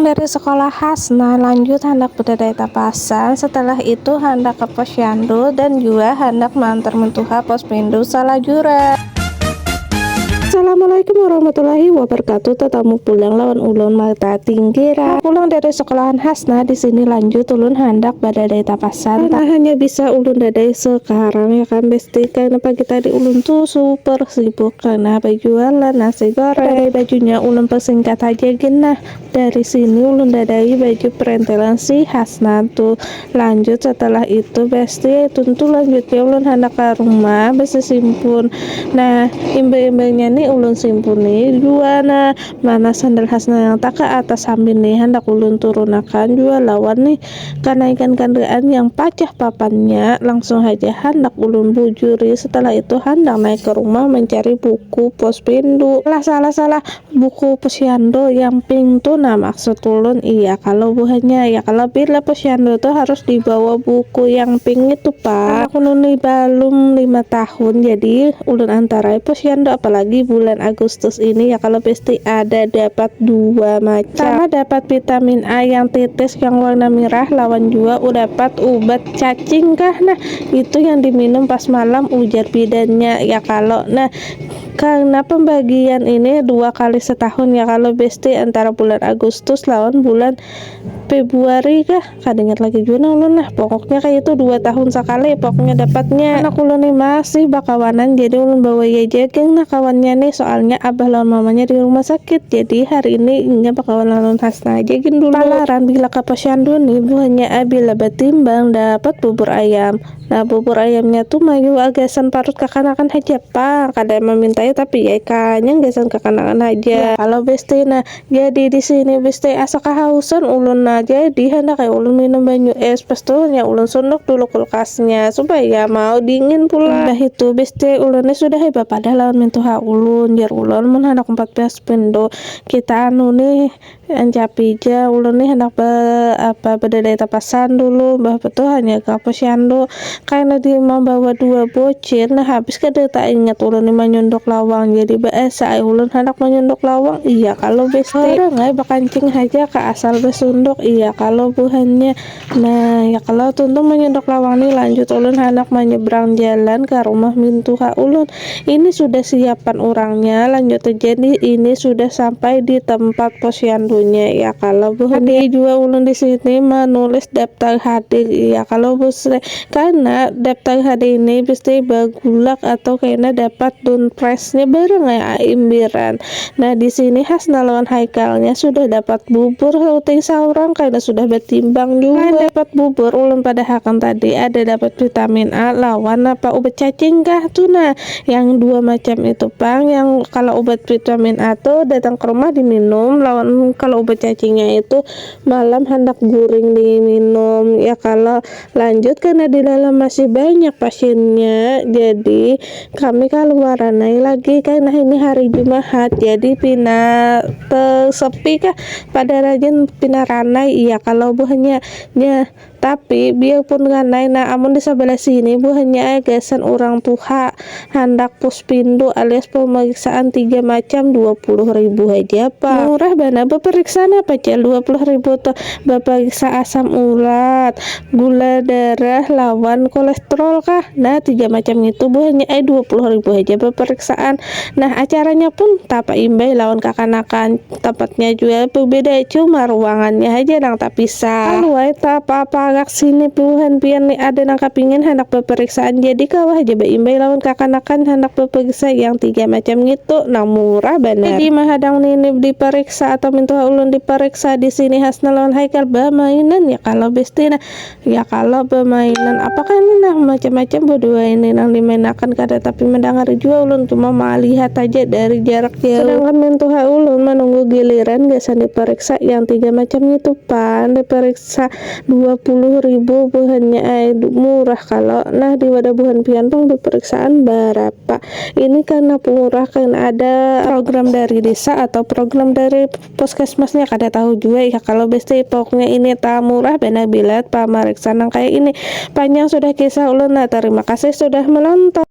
Dari sekolah Hasna lanjut handak bedadai tapasan, setelah itu handak ke posyandu dan jua handak maantar mentuha pos pindu salajuran. Assalamualaikum warahmatullahi wabarakatuh tatamu pulang lawan ulun mata tinggi ra. Nah pulang dari sekolahan Hasna di sini lanjut ulun handak badadai tapasan karena hanya bisa ulun dadai sekarang ya kan besti karena pagi tadi ulun tu super sibuk karena bejualan nasi goreng badadai bajunya ulun persingkat haja gin nah Dari sini ulun dadai baju perentelan si Hasnan tu. Lanjut setelah itu besti, tuntu lanjutnya ulun handak ka rumah besisimpun. Nah, imbah-imbahnya ni ulun simpuni jua nah mana sandal Hasnan yang tak ka atas sambil ni handak ulun turunakan jua lawan ni kanaikan kandaraan yang pacah papannya. Langsung haja handak ulun bujuri setelah itu handak naik ke rumah mencari buku pospendu. Salah salah salah. Buku posyandu yang pink tu nah maksud ulun iya kalo buhannya ya kalo bila posyandu tu harus dibawa buku yang pink itu pak. Anak ulun ni balum lima tahun jadi ulun antarai posyandu apalagi bulan agustus ini ya kalo pasti ada dapat dua macam sama dapat vitamin A yang tetes yang warna merah lawan jua udapat ubat cacing kah nah itu yang diminum pas malam ujar bidannya ya kalo nah Karna pembagian ini dua kali setahun ya kalo besti antara bulan Agustus lawan bulan Februari kah kada ingat lagi jua nah ulun nah pokoknya kaya itu dua tahun sakali pokoknya dapatnya. Anak ulun ni masih bakawanan jadi ulun bawai aja geng nah kawannya ni soalnya abah lawan mamanya di rumah sakit jadi hari ini inya bakawan lawan Hasna aja gin dulu. Palarang bila ka posyandu ni buhannya ai bila batimbang dapat bubur ayam. Nah bubur ayamnya tu mayuwa gasan parut kakanakan haja pang, kada yang mamintaya tapi ai kanyang gasan kakanakan haja. Nah kalo besti nah jadi disini besti asa kahausan ulun nah jadi handak ai ulun minum banyu es pas tu hanya ulun sunduk dulu kulkasnya supaya mau dingin pulang. Imbah itu besti ulun ni sudah ai bapadah lawan mintuha ulun, jar ulun mun handak umpat baspin tu kita anu nih Ancapi ja, ulun ni handak ba apa badadai tapasan dulu, mbah apa tu hanyar ka posyandu, kaina di mambawa dua bocil, nah habis kada taingat ulun ni manyunduk lawang, jadi ba asa ai ulun handak manyunduk lawang, iya kalo besti. Orang ai bakancing haja ka asal basunduk, iya kalo buhannya. Nah, ya kalau tuntung menyedok lawang ni lanjut ulun handak menyeberang jalan ka rumah mintuha ulun. Ini sudah siapan urangnya lanjut terjadi ini sudah sampai di tempat posyandunya. Ya kalau buhuni jua ulun di sini menulis daptar hadir. Ya kalau busre Karena daptar hari ini mesti bagulak atau kena dapat dunpresnya bareng ai aimbiran. Nah di sini Hasna lawan Haikalnya sudah dapat bubur sauting saurang karena sudah batimbang jua. Selain dapat bubur ulun padahakan tadi ada dapat vitamin A lawan napa ubat cacing kah tu nah yang dua macam itu pang yang kalo ubat vitamin A tu datang ke rumah di minum lawan kalo ubat cacingnya itu malam handak guring di minum ya kalo Lanjut karena di dalam masih banyak pasiennya jadi kami kaluaran ai lagi karena ini hari Jumahat jadi pina tesepi kah pada rajin pina ranai iya kalau buhannya nya tapi biarpun ranai nah amun di sabalah sini buhannya ai gasan urang tuha handak puspindu alias pemeriksaan tiga macam dua puluh ribu haja pang murah banar beperiksaan apa jar dua puluh ribu tuh beperiksa asam urat gula darah lawan kolestrol kah nah tiga macam ngitu buhannya ai dua puluh ribu haja beperiksaan nah acaranya pun tapaimbai lawan kakanakan. Tempatnya jua berbeda, cuma ruangannya haja nang tapisah. Aluai, taapa-apa agak sini buhan pian ni ada nang kapingin handak bapariksaan jadi kawa haja baimbai lawan kakanakan handak bapariksa yang tiga macam ngitu nang murah banar. Jadi mahadang ninip dipariksa atau mintuha ulun dipariksa disini Hasna lawan Haikal bamainan ya kalo besti nah. Ya kalo bemainan apakah ini nah macam-macam berdua ini nang dimainakan kada tapi mendengar jua ulun cuma malihat haja dari jarak jauh. Sedangkan mentuha ulun menunggu giliran gasan diperiksa yang tiga macam ngitu pang diperiksa dua puluh ribu buhannya ai murah kalo nah di wadah buhan pian pang diperiksaan barapa ini karna murah karna ada program dari desa atau program dari Puskesmasnya kada tahu jua iha kalo besipuknya ini ta murah banar bila pamariksa nang kaya ini. Panjang sudah kisah ulun nah, tarima kasih sudah menonton.